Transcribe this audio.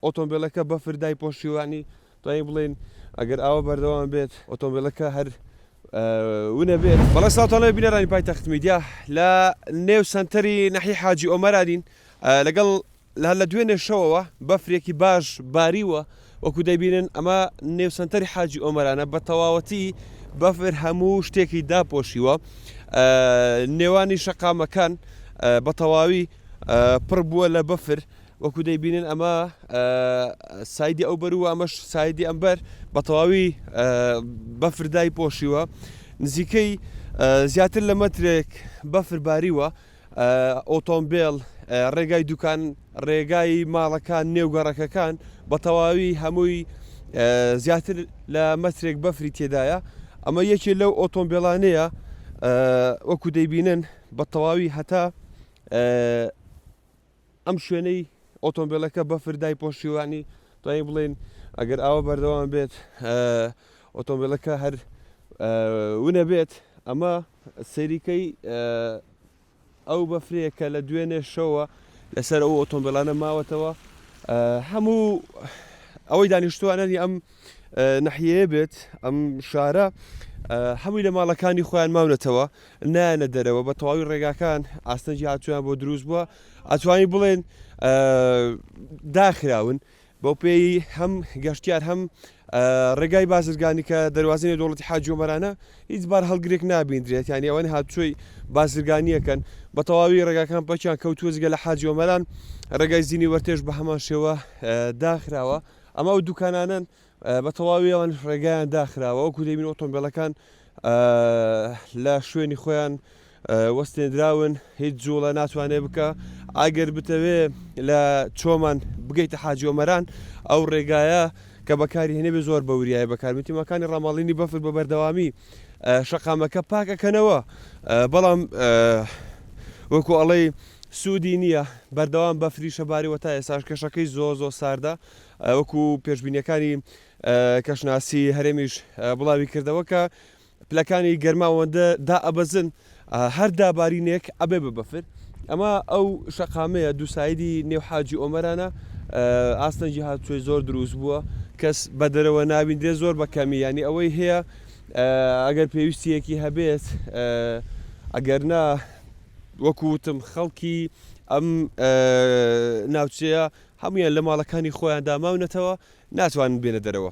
ئۆتۆمبێلەکە بەفر دایپۆشیوانی توانین بڵێین ئەگەر ئاوە بەردەوام بێت ئۆتۆمبێلەکە هەر ونە بێت بەڵێ ساوتانەوەی بینەرانی پای تەخت میدیا لە نێو سنتەری نەحی حاجی ئۆمەرانین لەگەڵ لە لە دوێنێ شەوەوە بەفرێکی باش باریوە وەکو دەبینن ئەمە نێو سنتەری حاجی ئۆمەرانە بە تەواوەتی بەفر هەموو شتێکی داپۆشیوە نێوانی شەقامەکان بە تەواوی پڕ بووە لە بەفر وەکو دەیبینن ئەمە سایدی ئەو بەرو ئەمەش سایدی ئەمبەر بە تەواوی بەفر دای پۆشیوە نزیکەی زیاتر لە مەترێک بەفر باریوە ئۆتۆمبیل ڕێگای دوکان ڕێگای ماڵەکان نێوگەڕەکەکان بە تەواوی هەمووی زیاتر لە مەترێک بەفری تێدایە ئەمە یەکێ لەو ئۆتۆمبیلانەیە وەکو دەیبینن بە تەواوی هەتا ئەم شوێنەی ئۆتۆمبیلەکە بەفر دایپۆشیوانی توانین بڵێن ئەگەر ئاوە بەردەوام بێت ئۆتۆمبیلەکە هەر ونە بێت ئەمە سەریکەی ئەو بەفرەیە کە لە دوێنێ شەوە لەسەر ئەو ئۆتۆمبیلانە ماوەتەوە هەموو ئەوەی دانیشتوانانی ئەم نەحیەیە بێت ئەم شارە هەمووی لە ماڵەکانی خۆیان ماونەتەوە نایەنە دەرەوە بە تەواوی ڕێگاکان ئاستەنگی هاتوویان بۆ دروست بووە ئەتوانی بڵێن داخراون بەوپێی هەم گەشتیار هەم ڕێگای بازرگانی کە دەواازینە دەوڵەتی حاجۆمەرانە هیچ بار هەڵگرێک نابیندرێت یان ئەوەن هاتووی بازرگانیەکەن بە تەواوی ڕێگاکان پەکیان کەوتوەزگە لە حاجۆمەران ڕێگای زیینی وەرتێش بە هەمان شێوە داخراوە ئەمە و دوکانانن و بە تەواوی ئەوان ڕێگایان داخراوە، وەکو دەبین ئۆتۆمبێلەکان لە شوێنی خۆیان وەستێنراون هیچ جوڵە ناتوانێ بکە ئاگەر بتەوێ لە چۆمان بگەیتە حاجۆمەران ئەو ڕێگایە کە بەکاری هێنێ بێ زۆر بەوریای بەکارمتیمەکانی ڕاماڵینی بەفر بە بەردەوامی شەقامەکە پاکەکەنەوە بەڵام وەکو ئەڵەی سوودی نییە بەردەوام بەفری شەباریوە تا ئێساش کەشەکەی زۆ زۆ ساردە وەکو پێشبینیەکانی کەشناسی هەرێمیش بڵاوی کردەوە کە پلەکانی گەرما ئەوەندە دائەبەزن هەر دابارینێک ئەبێ بە بەفر ئەمە ئەو شەقامەیە دووسایدی نێو حاجی ئۆمەرانە ئاستەنجی هاتوێ زۆر دروست بووە کەس بە دەرەوە ناوین دێ زۆر بە کەمی ینی ئەوەی هەیە ئەگەر پێویستیەکی هەبێت ئەگەر نا وەکوتم خەڵکی ئەم ناوچەیە هەموویان لە ماڵەکانی خۆیاندا ماونەتەوە، ناتوانن بێنە دەرەوە.